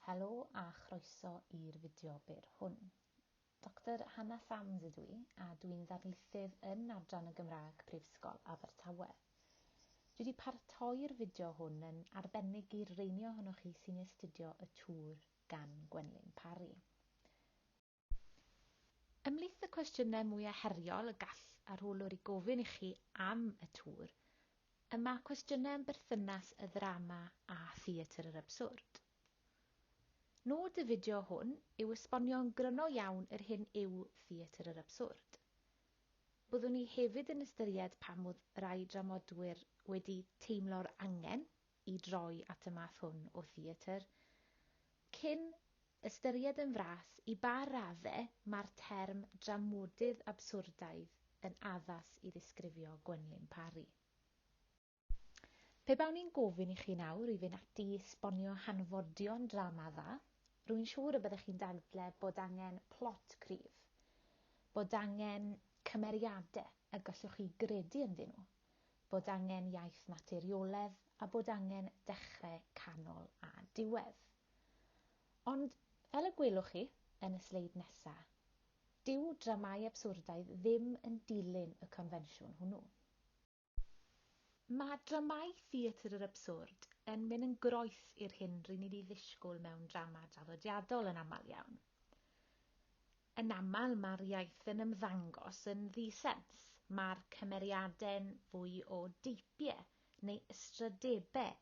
Helo a chroeso i'r fideo byr hwn. Doctor Hannah Sams ydw i a dw i'n ddarlithydd yn Adran y Gymraeg Prifysgol Abertawe. Dwi wedi paratoi'r fideo hwn yn arbennig i'r reini ohonoch chi sy'n astudio y Twr gan Gwenlyn Parry. Ymhlith y cwestiynau mwyaf heriol y gall arholwr i gofyn i chi am y tŵr, y mae cwestiynau am berthynas y ddrama â theatr yr absurd. Nod y fideo hwn yw esbonio'n gryno iawn yr hyn yw theatr yr absurd. Byddwn ni hefyd yn ystyried pam oedd rai dramodwyr wedi teimlo'r angen i droi at y math hwn o theatr, cyn ystyried yn fras i ba radde mae'r term dramodydd abswrdaidd yn addas i ddisgrifio Gwenlyn Parry. Pe bawn i'n gofyn i chi nawr i fynd ati i sbonio hanfodion drama dda, rwy'n siŵr y byddech chi'n dadle bod angen plot cryf, bod angen cymeriade y gallwch chi gredu ynddyn nhw, bod angen iaith naturioledd a bod angen dechre, canol a diwedd. Ond, fel y gwelwch chi yn y sleid nesa, dyw dramâu abswrdaidd ddim yn dilyn y confensiwn hwnnw. Mae dramâu theatr yr abswrd yn mynd yn groes i'r hyn ry'n ni'n ei ddisgwyl mewn drama draddodiadol yn aml iawn. Yn aml mae'r iaith yn ymddangos yn ddi-sens, mae'r cymeriadau'n fwy o deipiau neu ystrydebau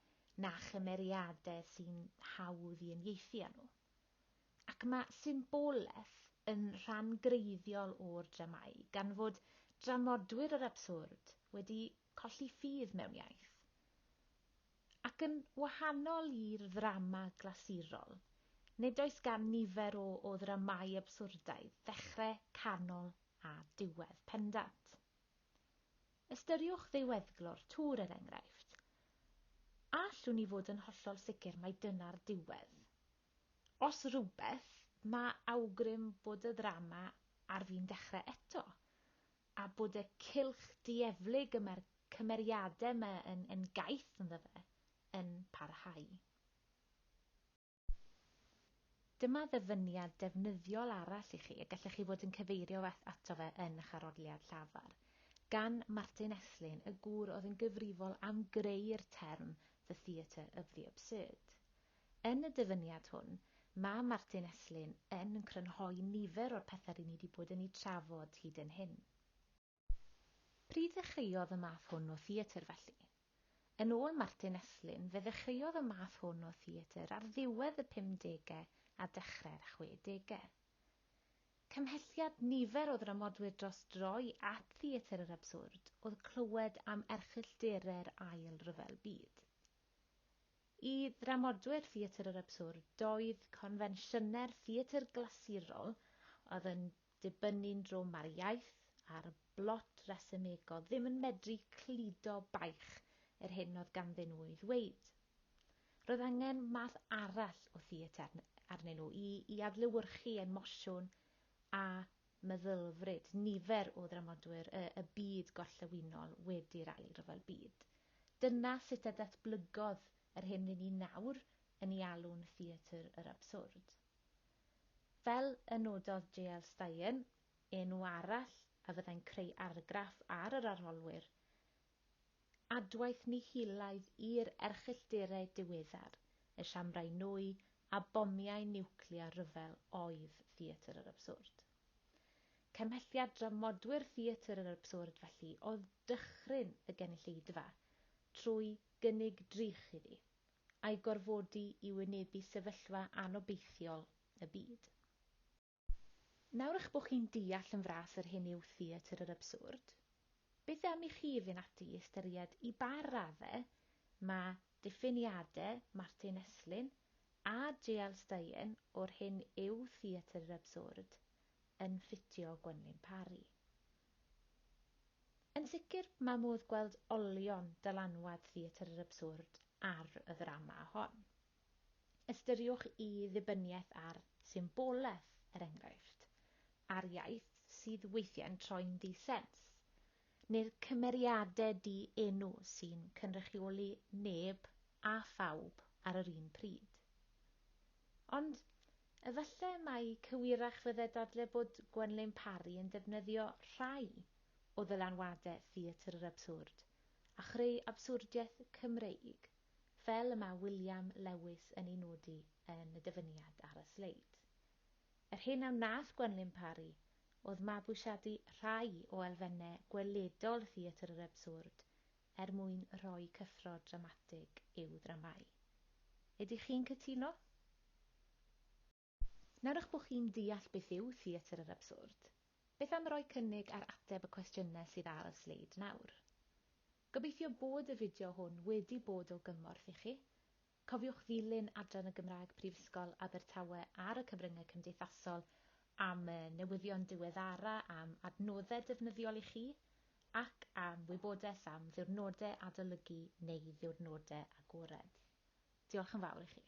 na chymeriadau sy'n hawdd i uniaethu â nhw. Ac mae symbolaeth yn rhan greiddiol o'r dramâu, gan fod dramodwyr yr abswrd wedi Colli ffydd mewn iaith. Ac yn wahanol i'r ddrama glasurol, nid oes gan nifer o o ddramâu abswrdaidd ddechre, canol a diwedd pendant. Ystyriwch ddiweddglo'r tŵr, er enghraifft. A allwn ni fod yn hollol sicr mai dyna'r diwedd? Os rhywbeth, mae awgrym bod y ddrama ar fin dechrau eto. a bod y cylch dieflig y mae'r cymeriadau yma yn yn gaeth ynddo fe yn parhau. Dyma ddyfyniad defnyddiol arall i chi y gallech chi fod yn cyfeirio ato fe yn eich arholiad llafar, gan Martin Esslin, y gŵr oedd yn gyfrifol am greu'r term 'the theatre of the absurd'. Yn y dyfyniad hwn, mae Martin Estlin yn crynhoi nifer o'r pethau ry'n ni wedi bod yn eu trafod hyd yn hyn. Pryd ddechreuodd y math hwn o theatr felly? Yn ôl Martin Estlin, fe ddechreuodd y math hwn o theatr ar ddiwedd y pumdegau a dechrau'r chwedegau. Cymhelliad nifer o ddramodwyr dros droi at theatr yr abswrd oedd clywed am erchylldere'r Ail Ryfel Byd. I ddramodwyr theatr yr abswrd, doedd confensiynau'r theatr glasurol, oedd yn dibynnu'n drwm ar iaith, ar blot resymegol, ddim yn medru cludo baich yr hyn oedd ganddyn nhw ei ddweud. Roedd angen math arall o theatr arnyn nhw i i adlewyrchu emosiwn a meddylfryd nifer o ddramodwyr y y byd gorllewinol wedi'r Ail Ryfel Byd. Dyna sut a datblygodd yr hyn ry'n ni nawr yn ei alw'n theatr yr abswrd. Fel y nododd JL. Stein, enw arall a fyddai'n creu argraff ar yr arholwyr, Adwaith nihilaidd i'r erchyllterau diweddar, y siambrau nwy a bomiau niwclear rhyfel oedd Theatr yr Abswrd. Cymhelliad dramodwyr Theatr yr Abswrd felly oedd dychryn y gynulleidfa trwy gynnig drych iddi, a'i gorfodi i wynebu sefyllfa anobeithiol y byd. Nawr eich bod chi'n deall yn fras yr hyn yw theatr yr abswrd, beth am i chi fynd ati i ystyried i ba radde mae diffiniade Martin Esslin a JL Steyen o'r hyn yw theatr yr abswrd yn ffitio Gwenlyn Parry? Yn sicr, mae modd gweld olion dylanwad theatr yr abswrd ar y ddrama hon. Ystyriwch y ddibyniaeth ar symbolaeth, er enghraifft, a'r iaith sydd weithiau'n troi'n ddi-sens, neu'r cymeriadau di-enw sy'n cynrychioli neb a phawb ar yr un pryd. Ond efallai mai cywirach fyddai dadle bod Gwenlyn Parry yn defnyddio rhai o ddylanwadau theatr yr abswrd a chreu abswrdiaeth Cymreig. fel y mae William Lewis yn ei nodi yn y dyfyniad ar y sleid. Yr hyn a wnaeth Gwenlyn Parry oedd mabwysiadu rhai o elfennau gweledol theatr yr abswrd er mwyn rhoi cyffro dramatig i'w ddramâu. Ydych chi'n cytuno? Nawr eich bod chi'n deall beth yw theatr yr abswrd, beth am roi cynnig ar ateb y cwestiynau sydd ar y sleid nawr? Gobeithio bod y fideo hwn wedi bod o gymorth i chi. Cofiwch ddilyn Adran y Gymraeg Prifysgol Abertawe ar y cyfryngau cymdeithasol am y newyddion diweddara am adnoddau defnyddiol i chi ac am wybodaeth am ddiwrnodau adolygu neu ddiwrnodau agored. Diolch yn fawr i chi.